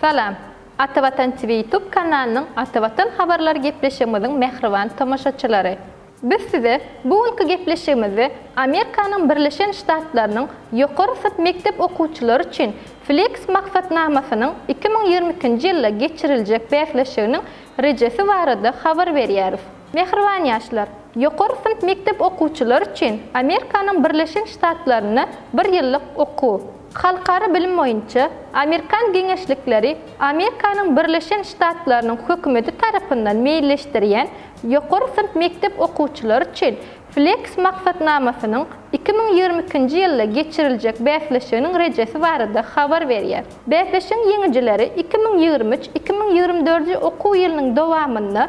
Salam. Ata Watan TV YouTube kanalynyň Ata Watan habarlary gepleşigimiziň mähriban tomaşaçylary. Biz size bu günki gepleşigimizde Amerikanyň Birleşen Ştatlarynyň ýokary synp mekdep okuwçylary üçin Flex maksatnamasynyň iki müň ýigrimi ikinji ýylda geçiriljek bäsleşiginiň rejesi barada habar berýäris. Mähriban ýaşlar! Ýokary synp mekdep okuwçylary üçin Amerikanyň Birleşen Ştatlarynda bir ýyllyk okuw, halkara bilim boýunça Amerikan geňeşlikleri Amerikanyň Birleşen Ştatlarynyň hökümeti tarapyndan meýilleşdirýän ýokary synp mekdep okuwçylary üçin Flex maksatnamasynyň iki müň ýigrimi ikinji ýylda geçiriljek bäsleşiginiň rejesi barada habar berýär. Bäsleşigiň ýeňijileri iki müň ýigrimi üç iki müň ýigrimi dördünji okuw ýylynyň dowamynda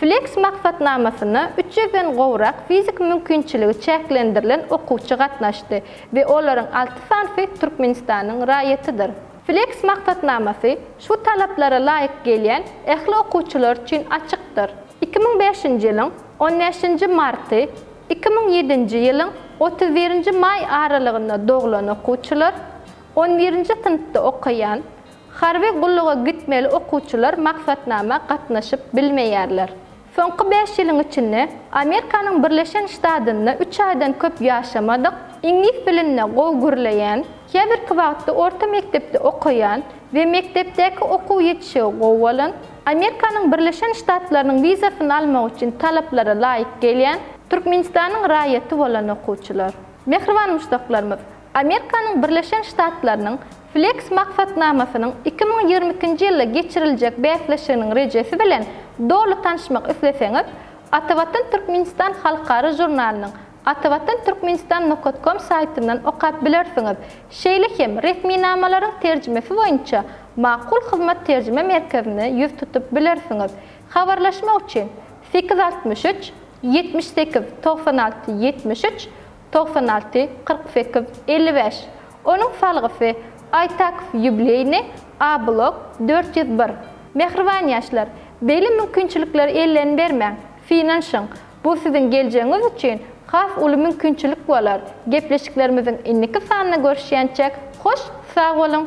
Flex maksatnamasyna üç ýüzden gowrak fiziki mümkinçiligi çäklendirilen okuwçy gatnaşdy we olaryň alty sanysy Türkmenistanyň raýatydyr. Flex maksatnamasy şu talaplara laýyk gelýän ähli okuwçylar üçin açykdyr. Iki müň bäşinji ýylyň on bäşinji marty, iki müň ýedinji ýylyň otuz birinji maý aralygynda doglan okuwçylar, on birinji synpda okaýan, Harby gulluga gitmeli okuwçylar maksatnama gatnaşyp bilmeýärler. Soňky bäş ýylyň içinde Amerkanyň Birleşen Ştadynda üç aýdan köp ýaşamadyk, iňlis dilinde gowy gürleýän, käbirki wagtda orta mekdepde okaýan we mekdepdäki okuw ýetişigi gowy bolan, Amerkanyň Birleşen Ştatlarynyň wizasyny almak üçin talaplara laýyk gelýän Türkmenistanyň raýaty bolan okuwçylar. Mähriban muşdaklarymyz, Amerikanyň Birleşen Ştatlarynyň Flex maksatnamasynyň iki müň ýigrimi ikinji ýylda geçiriljek bäsleşiginiň rejesi bilen doly tanşmak isleseňiz, Atavatan Türkmenistan halkara žurnalynyň Atavatan Türkmenistan nokat kom saýtyndan okap bilersiňiz, şeýle hem resminamalaryň terjimesi boýunça Makul hyzmat terjime merkezine ýüz tutup bilersiňiz. Habarlaşmak üçin, sekiz altmyş üç, ýetmiş sekiz, togsan alty, ýetmiş üç, togsan alty, kyrk sekiz, elli bäş, Onuň salgysy, Aýtakow ýubileýny, A-blok, dört ýüz bir. Mähriban ýaşlar, beýle mümkinçilikleri elden bermäň, synanyşyň, bu siziň geljegiňiz üçin has uly mümkinçilik bolar, gepleşiklerimiziň indiki sanynda görüşýänçäk, hoş sag boluň!